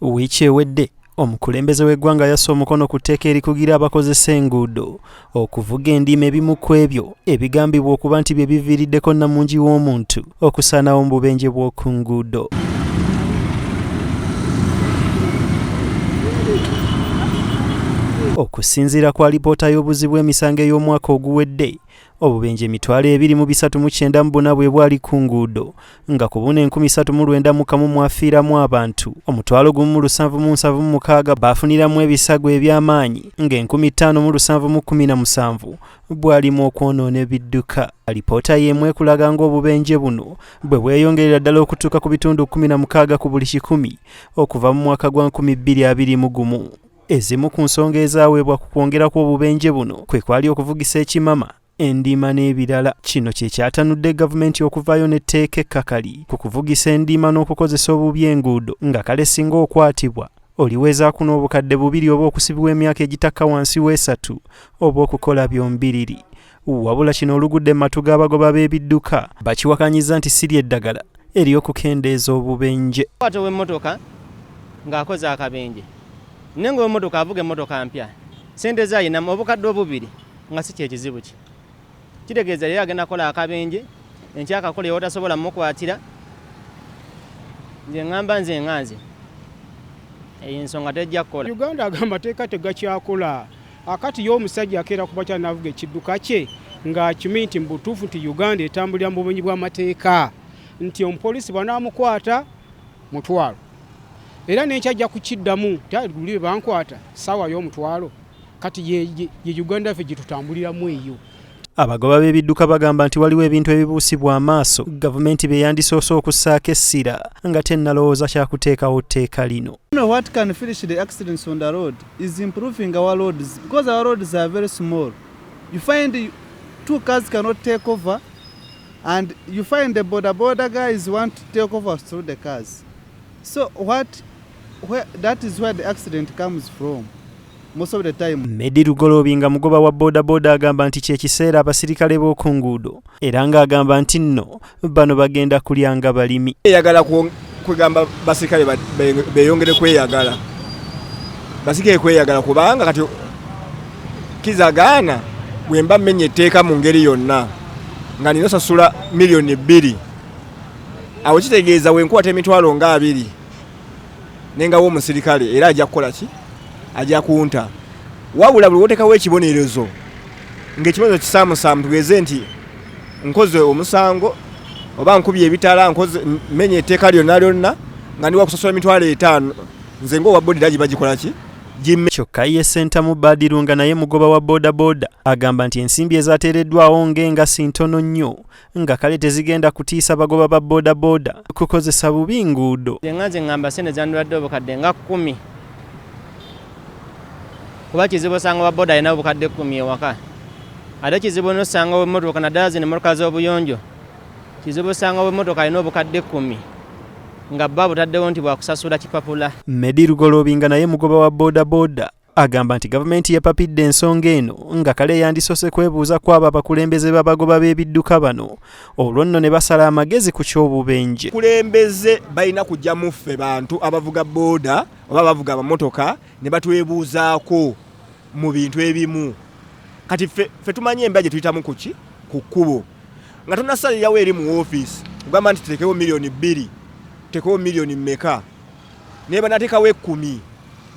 wiiki ewedde omukulembeze w'eggwanga yassa omukono ku tteeka erikugira abakozesa enguudo okuvuga endiima ebimu ku ebyo ebigambibwa okuba nti bye biviiriddeko nnamungi w'omuntu okusaanawo mu bubenje bw'oku nguudo okusinziira ku alipoota y'obuzibu emisango ey'omwaka oguwedde Obubenje emitwalo ebiri mu bisatu mu kyenda mu buna bwe bwali ku nguudo nga ku buna enkumi satu mu lwenda mu kamu mwafiiramu abantu omutwalo gumu mu lusanvu mu nsanvu mu mukaaga baafuniramu ebisago eby'amaanyi ng'enkumi ttaano mu lusanvu mu kkumi na musanvu bwalimu okwonoona ebidduka alipoota y'emu ekulaga ng'obubenje buno bwe bweyongerera ddala okutuuka ku bitundu kkumi na mukaaga ku buli kikumi okuva mu mwaka gwa nkumi bbiri abiri mu gumu Ezimu ku nsonga ezaweebwa ku kwongera kw'obubenje buno kwe kwali okuvugisa ekimama endiima n'ebirala kino kye kyatanudde gavumenti okuvaayo n'etteeka ekkakali ku kuvugisa endiima n'okukozesa obubi enguudo nga kale singa okwatibwa oliweezaako n'obukadde bubiri oba okusibibwa emyaka egitakka wansi w'esatu oba okukola byombiriri wabula kino olugudde mu matu g'abagoba b'ebidduka bakiwakanyiza nti si ly'eddagala ery'okukendeeza obubenje kwata ow'emmotoka ng'akoze akabenje naye ng'ow'emmotoka avuga emmotoka mpya sente ze ayinamu obukadde obubiri nga si kyekizibu kye kitegeeza leero agenda kukola akabenje enkyakakola ewotasobola mukwatira nze ŋŋamba nze nga nze eyo ensonga tejja kukola uganda aga amateeka tegakyakola Akati yo omusajja akeera ku bakyala n'avuga ekidduka kye ng'akimanyi nti mu butuufu nti Uganda etambulira mu bumenyi bw'amateeka nti omupoliisi bwanaamukwata mutwalo era n'enkya ajja kukiddamu nti luli be bankwata ssaawa y'omutwalo kati ye Uganda yaffe gye tutambuliramu eyo. Abagoba b'ebidduka bagamba nti waliwo ebintu ebibuusibwa amaaso gavumenti bye yandisoose okussaako essira nga tennalowooza kya kuteekawo tteeka lino. and you find the border border guys want to take over through the cars so what where, that is where the accident comes from Medi Lugoloobi nga mugoba wa bodaboda agamba nti kyekiseera abasirikale b'oku nguudo era ng'agamba nti nno bano bagenda kulya nga balimi. Eyagala kwegamba basirikale beyongere kweyagala basirikale kweyagala kubanga kati kizagaana bwemba mmenya etteeka mu ngeri yonna nga nina osasula miliyoni bbiri awo kitegeeza wenkwata emitwalo nga abiri nengawo omusirikale era ajja kukola ki ajja kunta wabula buli wotekawo ekibonerezo ngaekibonerezo kisamusaamu tugeze nti nkoze omusango oba nkubye ebitala nkoze menya etteeka lyonna lyonna nga ndi wakusosola emitwalo etaano nze ngaowa bodira giba gikola ki kyokka ye sentamu badiru nga naye mugoba wa bodaboda agamba nti ensimbi ezateereddwawo ng'engasi ntono nnyo nga kale tezigenda kutiisa bagoba ba bodaboda kukozesa bubi nguudo nga nze ngamba sente zandibadde obukadde nga kumi kuba kizibu osanga wa boda alina obukadde kumi ewaka ate kizibu nosanga wemotoka naddala zino emotoka z'obuyonjo kizibu osanga wemotoka alina obukadde kumi nga bba butaddewo nti bwakusasula kipapula medi lugolobinga naye mugoba wa bodaboda Agamba nti gavumenti yepapidde ensonga eno nga kale yandisose kwebuuza kwabo abakulembeze b'abagoba b'ebidduka bano olwo nno ne basala amagezi ku ky'obubenje. Abakulembeze balina kujja mu ffe bantu abavuga booda oba abavuga amamotoka ne batwebuuzaako mu bintu ebimu. Kati ffe tumanyi embeera gye tuyitamu kuki ku kkubo nga tunasalirawo eri mu woofiisi kugamba nti tutekewo miliyoni bbiri tutekewo miliyoni mmeka. naye banatekawo ekumi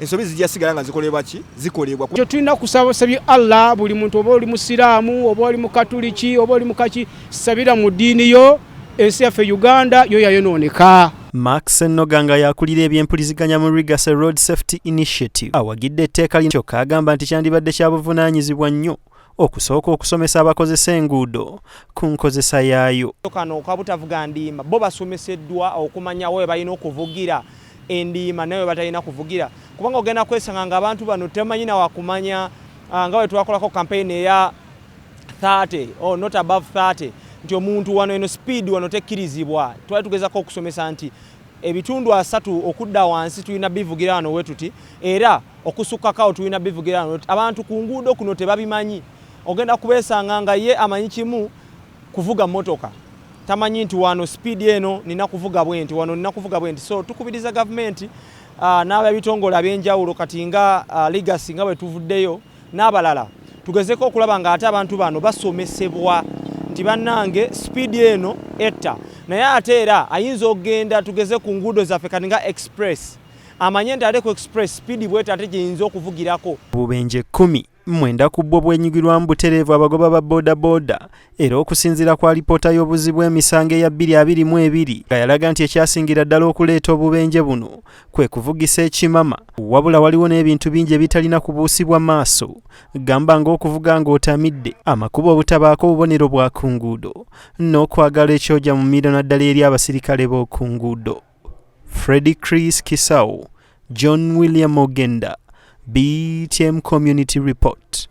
ensobi zijja sigala nga zikolebwa ki zikolebwa kyo tulina kusaba sabi Allah buli muntu oba oli musiraamu oba oli mukatuliki oba oli mukaki sabira mu diini yo ensi yaffe Uganda yo yayonooneka Max Noganga yakulira ebyempuliziganya mu Rigase Road Safety Initiative awagidde etteeka lino kyokka agamba nti kyandibadde kya buvunaanyizibwa nnyo okusooka okusomesa abakozesa enguudo ku nkozesa yaayo. Kano kabutavuga ndiima bo basomeseddwa okumanyawo we balina okuvugira endiima nawe batalina kuvugira kubanga ogenda kwesanga nga abantu bano temanyi nawakumanya ah, nga wetwakolako kampeyini eya 30 or oh, not above 30 nti omuntu wano eno speed wano tekkirizibwa twali tugezako okusomesa nti ebitundu asatu okudda wansi tulina bivugira wano wetuti era okusukkakao tulina bivugira wano wetuti abantu ku nguudo kuno tebabimanyi ogenda kubeesanga nga ye amanyi kimu kuvuga motoka tamanyi nti wano sipiidi eno nina kuvuga bwenti wano nina kuvuga bwenti so tukubiriza gavumenti ah, n'abebitongole ab'enjawulo kati nga ah, ligasi nga bwe tuvuddeyo n'abalala tugezeko okulaba nga ate abantu bano basomesebwa nti bannange sipiidi eno etta naye ate era ayinza okugenda tugeze ku nguudo zaffe kati nga express amanye nti ate ku express sipiidi bweta ate gyeyinza okuvugirako bubenje kumi mwenda ku bwo bwenyigirwamu butereevu abagoba ba bodaboda era okusinziira ku alipoota y'obuzzi bw'emisango eya 2022 nga yalaga nti ekyasingira ddala okuleeta obubenje buno kwe kuvugisa ekimama wabula waliwo n'ebintu bingi ebitalina kubuusibwa maaso gamba ng'okuvuga ng'otamidde amakubo obutabaako obubonero bwa ku nguudo n'okwagala ekyoja mu miro naddala eri abasirikale b'oku nguudo freddy chris kisawo john william ogenda btm community report